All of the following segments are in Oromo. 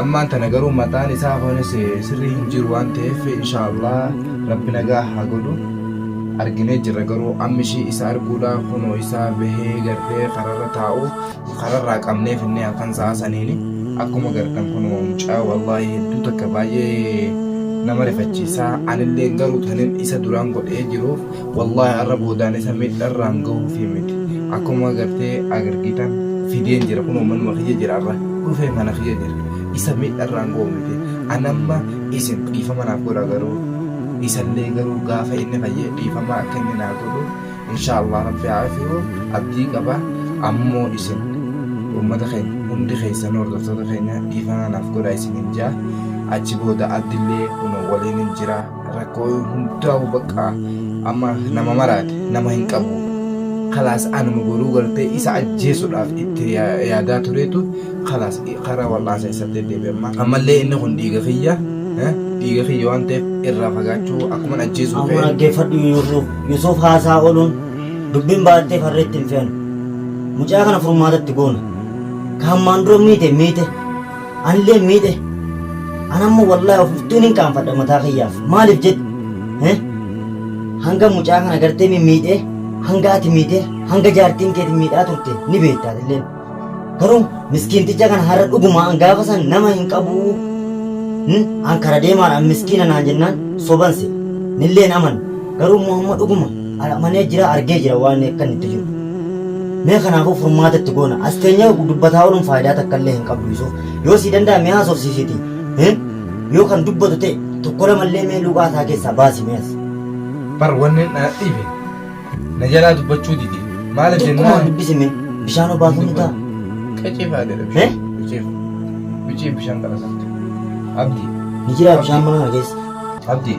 ammaan tana garuu mataan isaa kunis sirrii hin jiru waan ta'eef inshaallah rabbi nagaa haa godhu arginee jirra garuu ammi ishii isa arguudha kunoo isaa bahee gartee kararra taa'u kararraa qabnee finnee halkan sa'a saniini akkuma gartan kunoo mucaa wallaahi hedduu takka baay'ee nama rifachiisaa anillee garuu tanin isa duraan godhee jiruuf Wallahi har'a boodaan isa miidharraan gahuufi miti. Akkuma agartee agargitan fideen jira kunoo manuma kiyya jira har'a dhufee mana kiyya jira. Isa miidharraan gahu miti. Anamma isin dhiifama naaf godha garuu isallee garuu gaafa inni fayyee dhiifama akka inni naa godhu inshaa Allah rabbi haa afiyu abdii qaba ammoo isin uummata keenya hundi keessan hordoftoota keenya dhiifama naaf godha isin hin jaa achi booda abdillee kunoo waliin hin jiraa. rakkoo hundaa'u bakka amma nama maraate nama hin qabu kalaas anuma goruu gartee isa ajjeesuudhaaf itti ya- yaadaa tureetu kalaas karaa wal'aansa isatti deebi'e amma ammallee inni kun dhiiga kiyya eh, dhiiga kiyya waan ta'eef irraa fagaachuu akkuman ajjeesuu Amma ta'e dhaggeeffadhu Yuusuf. Yuusuf haasaa ooluun dubbiin baay'attee farreetti hin fe'an. Mucaa kana furmaatatti goona. Ka hammaan dura miite miite. Anillee miidhe. An amma wallaahi of iftuun hin qaanfadha mataa kiyyaaf. Maaliif jedhu? Eh? Hanga mucaa kana gartee mi miidhe, hanga ati miidhe, hanga jaartiin keeti miidhaa turte ni beektaa illee. Garuu miskiinticha kana har'a dhuguma an gaafa san nama hin qabu. Hmm? An kara deemaadha an miskiina naan jennaan soban se. Nilleen aman. Garuu immoo amma dhuguma Ana amanee jira argee jira waan akka inni itti jiru. Mee kanaafuu furmaata itti goona. As teenyee dubbataa ooluun faayidaa takka illee hin qabdu Yusuuf. Yoo sii danda'a mee haasofsiisiti. Hin? Yoo kan dubbatu ta'e tokko lama illee mee luuqaa isaa keessaa baasi mee as. Bar wanni na dhibe na jalaa dubbachuu dide maaliif Xiqquma jennaan dubbisi mee bishaan obaasuu ni ta'a. qicii faadedha Eh? bishaan qicii qicii bishaan qalasatte abdii Ni jiraa bishaan mana kana keessa. abdii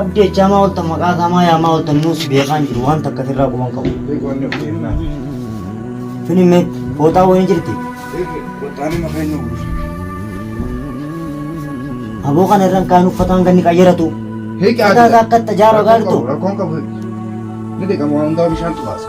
Abdi jechaa maa oltan maqaa isaa maa yaamaa oltan nuu si beekaa hin jiru waan takka sirraa quban qabu. Fini mee fooxaa wayii jirti. Aboo kana irraan kaan uffataan ganni qayyaratu. Hiikaa Mataa isaa akka itti ajaaru agartu. Rakkoon qabu ni dhiqama waan hundaa bishaan xubaasa.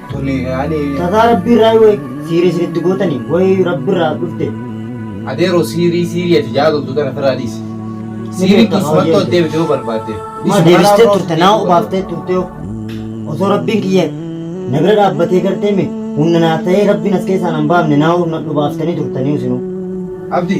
Tuni ani. Tataa rabbii irraa wayi siiri isin itti gootani wayi rabbi irraa dhufte. Adeero siirii siirii ati jaadoltu tana firaa dhiisi. Siirii dhiisi maltu as deebite yoo barbaadde. Maa deebistee turte naa obaaftee turte yoo. Osoo rabbiin kiyya na bira dhaabbatee gartee me hunna naa ta'ee rabbiin as keessaa nan baafne naa nadhu baaftanii turtanii isinuu. Abdi.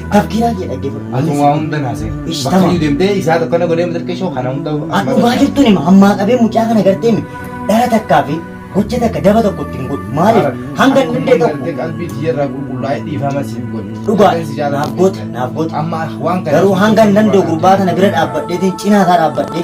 Tafkiraa kee dhaggeeffadhu. Ati waa hunda naasee. Ish, Bakka tamam. iyyuu deemtee isaa tokko na godhee matarkee shoo kana hunda. An dhugaa jirtuun hima ammaa qabee mucaa kana gartee mi dhara takkaa fi gocha takka daba tokko ittiin godhu maaliif hanga inni illee tokko Qalbii tiyyarraa qulqullaa'ee dhiifama siif godhe. dhugaa Kan si jaalatu naaf goota naaf goota Amma waan kana. garuu hanga hin danda'u gurbaa kana bira dhaabbadheetiin cinaa isaa dhaabbadhee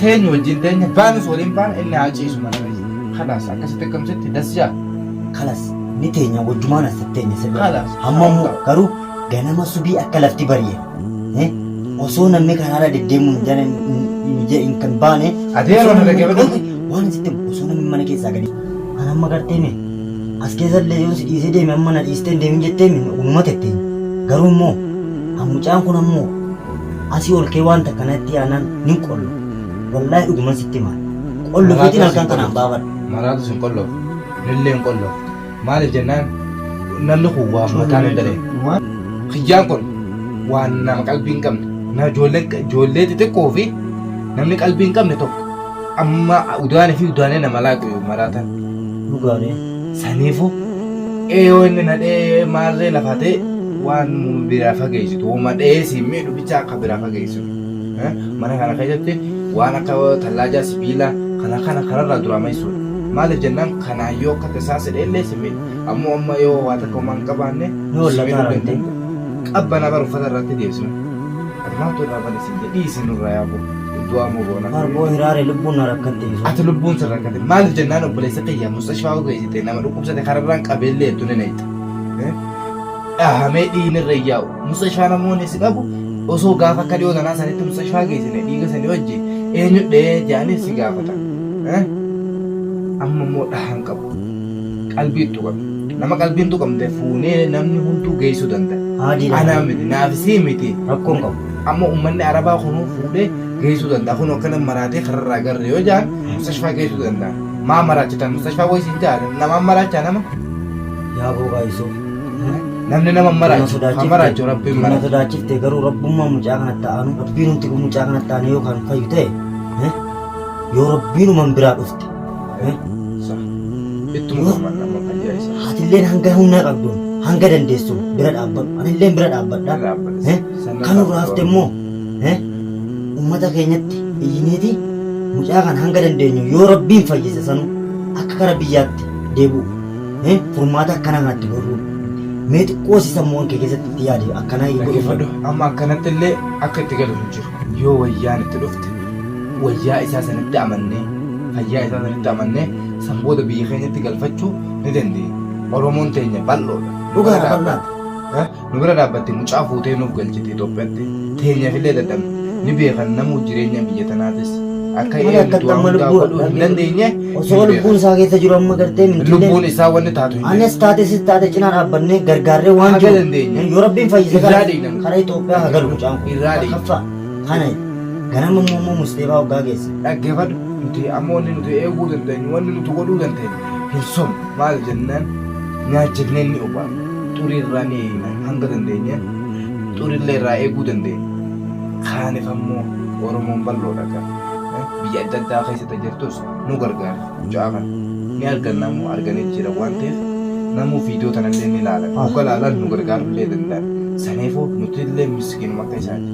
teenyu wajjin teenya baanus waliin baana inni haa ciisu mana keessa kalaas akkasitti akkamsitti dasjaa kalas ni teenya wajjumaan as teenya sirba Kalas. hamma immoo garuu ganama subii akka lafti bari'e eh, osoo namni karaarra deddeemuu hin jala hin kan baane Adeeroo osoo na namni- dhaggeeffadhu. waan sitti himu, osoo namni mana keessaa gadi kan amma gartee mee as keessa illee yoo si dhiisee deeme amma na dhiistee hin deemin jettee min uumama tettee garuu immoo hamucaan kun ammoo Asii ol kee wanta kanatti aanan nin qollo. Wallaahi dhuguman sitti hima. Qollo keetiin halkan kanaan baafadha. Maraatus hin qolloftu. Nillee hin qolloftu. Maaliif jennaan namni kun waan mataa hin dalee. Kiyyaan kun waan nama qalbii hin qabne. Na ijoollee xixiqqoo fi namni qalbii hin qabne tokko. Amma udaana fi udaanee nama laaqu maraatan. Dhugaani. Saniifu eeyoo inni nadhee maarree lafaa ta'e waan biraa fageessitu hooma dha'ee si miidhu bicha akka biraa fageessitu. Mana kana keessatti waan akka tallaajaa sibiila kana kana kanarraa duraa maisuudha. Maaliif jennaan kanaan yoo akka tasaa sidhee illee si miidha. Ammoo amma yoo waa takka homaa hin qabaanne si miidhuu danda'a. Qabbana bar uffata irratti deebisnu. Ati maaltu irraa bane siin jedhe dhiisi nurraa yaa boo. Du'aa moo boona? Bar boo hiraare lubbuun na rakkatte isu. Ati lubbuun sin rakkate maaliif jennaan obboleessa kiyya mustashfaa utuu eessite nama dhukkubsate kararraan qabeellee hedduu ni nayxa. Dhahamee dhiigni irra hin yaa'u. Mustashfaa namoonni si qabu osoo gaafa akka dhiyoo tanaa sanitti mustashfaa geessine dhiiga sanii wajji eenyu dhahee jedhanii si gaafatan. Amma immoo dhahaan qabu. Qalbii tuqame. Nama qalbiin tuqamte fuunee namni hunduu geessuu danda'a. Haajii dha. Anaa miti naafisii miti. Rakkoon qabu. Amma ummanni Arabaa kunuu fuudhee geessuu danda'a. Kun akkana maraatee kararraa garre yoo jaan mustashfaa geessuu danda'a. Maa maraachitan mustashfaa wayii siin jaa namaan maraachaa nama. Yaa boogaa Yusuf. Namni nama maraachu haa maraachu rabbiin Nama maraachu. sodaachifte garuu rabbummaa mucaa kana ta'anu rabbiin humti kun mucaa kana ta'an yoo kan fayyu ta'e eh, yoo rabbiinuman biraa dhufte Ittuma gammadna amma fayyaa isaa. Haatilleen hanga humnaa qabduun hanga dandeessuun bira dhaabbadhu. Anilleen bira dhaabbadha. Bira dhaabbadha. Eh, Sannan Kan nurraa hafte dhaabbadhu. immoo eh, uummata keenyatti iyyineeti mucaa kana hanga dandeenyu yoo rabbiin fayyise sanuu akka gara biyyaatti deebi'uuf eh, furmaata akkanaa kanatti gorruu. Mee xiqqoo si sammuuwwan kee keessatti itti yaade akkanaa Dhaggeeffadhu amma akkanatti illee akka itti galu hin jiru. yoo wayyaan itti dhufte wayyaa isaa sanitti amannee fayyaa isaa sanitti amannee san booda biyya keenyatti galfachuu ni dandeenya. Oromoon teenya bal'oodha. Dhugaa Dhugaa bal'aa. Eh, Nu bira dhaabbatte mucaa fuutee nuuf galchite Itoophiyaatti teenyaaf illee dadhabne ni beekan namuu jireenya biyya tanaatis akka Mana eegdu akkatti waan amma hundaa lubbuun godhuu hin dhabee. dandeenye Osoo hin lubbuun isaa keessa jiru amma gartee beekan. mintillee. lubbuun isaa wanni taatu hin Anis taate sis taate cinaa dhaabbannee gargaarree waan Haga jiru. dandeenye. Yoo rabbiin fayyise Irraa kana. dhiigna. Kara Itoophiyaa haa galu mucaan kun. Irraa deema. Kaffaa. Kana ganama immoo immoo musliimaa hoggaa geesse. Dhaggeeffadhu nuti amma wanni nuti eeguu dandeenyu wanni nuti godhuu dandeenyu hin somu maal jennaan nyaachifnee ni obaafna xurii irraa ni eegna hanga dandeenye xurillee irraa eeguu dandeenya. Kaaniif ammoo Oromoon bal'oodha kan biyya adda addaa keessatti jirtus nu gargaari mucaa kana ni arganna ammoo arganee jira waan ta'eef namuu viidiyoo tanallee ni laalan hogga laalan nu gargaarullee danda'an saniifuu nutillee miskiinuma akka isaati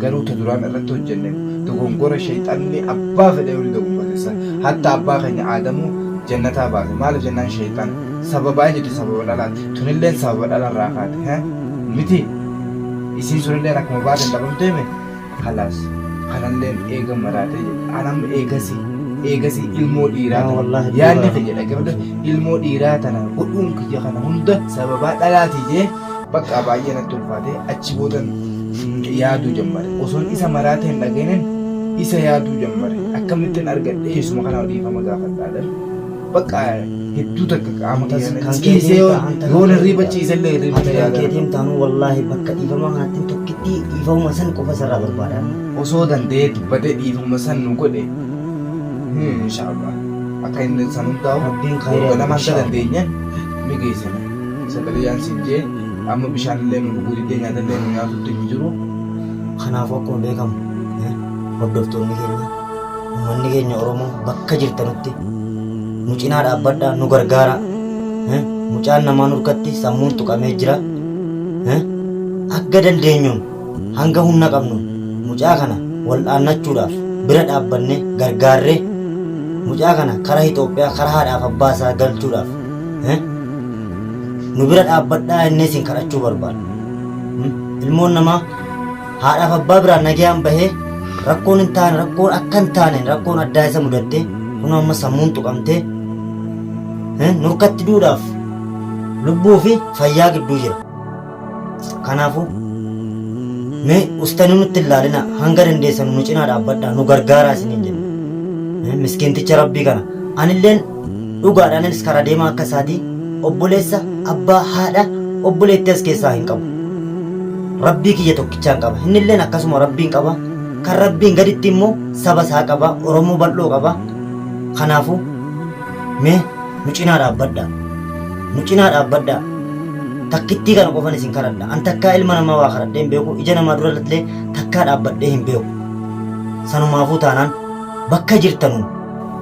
garuu ta duraan irratti hojjenne dogongora shayxanni abbaa fedhe yoo ni dogongorsisan hatta abbaa keenya aadamuu jannataa baase maaliif jennaan shayxan sababaa hin jirti sababa dhalaati tunilleen sababa dhalarraa kaate he miti isiin sunilleen akkuma baateen dhabamteeme Kalaas kanalleen eega maraatee jedhe anam eegasi eegasi ilmoo dhiiraa Yaa wallahi tana yaadni dhiiraa. kiyya dhaggeeffadha ilmoo dhiiraa tana godhuun kiyya kana hunda sababaa dhalaatii jee bakka baay'ee natti ulfaatee achi boodan mm, yaaduu jammare osoon isa maraatee hin dhageenin isa yaaduu jammare akkamittiin argadhee isuma kana dhiifama gaafadhaadhan Bakka hedduu takka qaama kan ciisee yoo yoo hirriiba ciisellee hirriiba Ati kan yaadata. keetiin taanuu wallaahi bakka dhiifamaa kanattiin tokkittii dhiifama san qofa isarraa barbaada amma. Osoo danda'ee dubbatee dhiifama san nu godhe. Hmm, Inshaallah. Akka inni san hundaa'u Rabbiin khayrii waggaa lama akka inshaallah. dandeenye ni geessina. Sadariyaan siin jee amma bishaan illee nu dhuguu diddee nyaata illee nu nyaatutti hin jiru. Kanaafuu akkuma beekamu eh, hordoftoonni keenya Uummanni keenya Oromoo bakka jirtanutti nu cinaa dhaabbadhaa nu gargaaraa. Eh, Mucaan namaa nurkatti sammuun tuqamee jira. Eh, Akka dandeenyuun hanga humna qabnu mucaa kana wal'aannachuudhaaf bira dhaabbannee gargaarree mucaa kana karaa Itoophiyaa karaa haadhaaf abbaa isaa galchuudhaaf eh, nu bira dhaabbadhaa innee isin kadhachuu barbaada. Hmm? Ilmoon namaa haadhaaf abbaa biraan nagayaan bahee rakkoon hin taane rakkoon akka hin taane rakkoon addaa isa mudatte kun amma sammuun tuqamtee eh, nurkatti duudhaaf lubbuu fi fayyaa gidduu jira kanaafuu mee ustani nutti hin laalina hanga dandeessan nu cinaa dhaabbadhaa nu gargaaraa isiniin jenna Eh, miskiinticha rabbii kana anilleen Dhugaadha ananis karaa deemaa akka isaati obboleessa abbaa haadha obboleettii as keessaa hin qabu. Rabbii kiyya tokkichaan qaba. Innilleen akkasuma rabbiin qaba. Kan rabbiin gaditti immoo saba isaa qaba. Oromoo bal'oo qaba. Kanaafuu mee nu cinaa dhaabbadhaa. Nu cinaa dhaabbadhaa. Takkittii kana qofan isin kadhadha. An takkaa ilma namaa waa kadhadhee hin beeku. Ija namaa dura illee takkaa dhaabbadhee hin beeku. Sanumaafuu taanaan bakka jirtanuu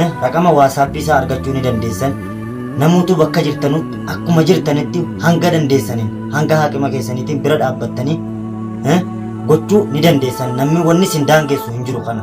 Eh, Raqama waasaappii isaa argachuu ni dandeessan. Namootuu bakka jirtanutti akkuma jirtanitti hanga dandeessaniin hanga haaqima keessaniitiin bira dhaabbattanii eh, gochuu ni dandeessan. Namni wanni isin daangessu hin jiru kana.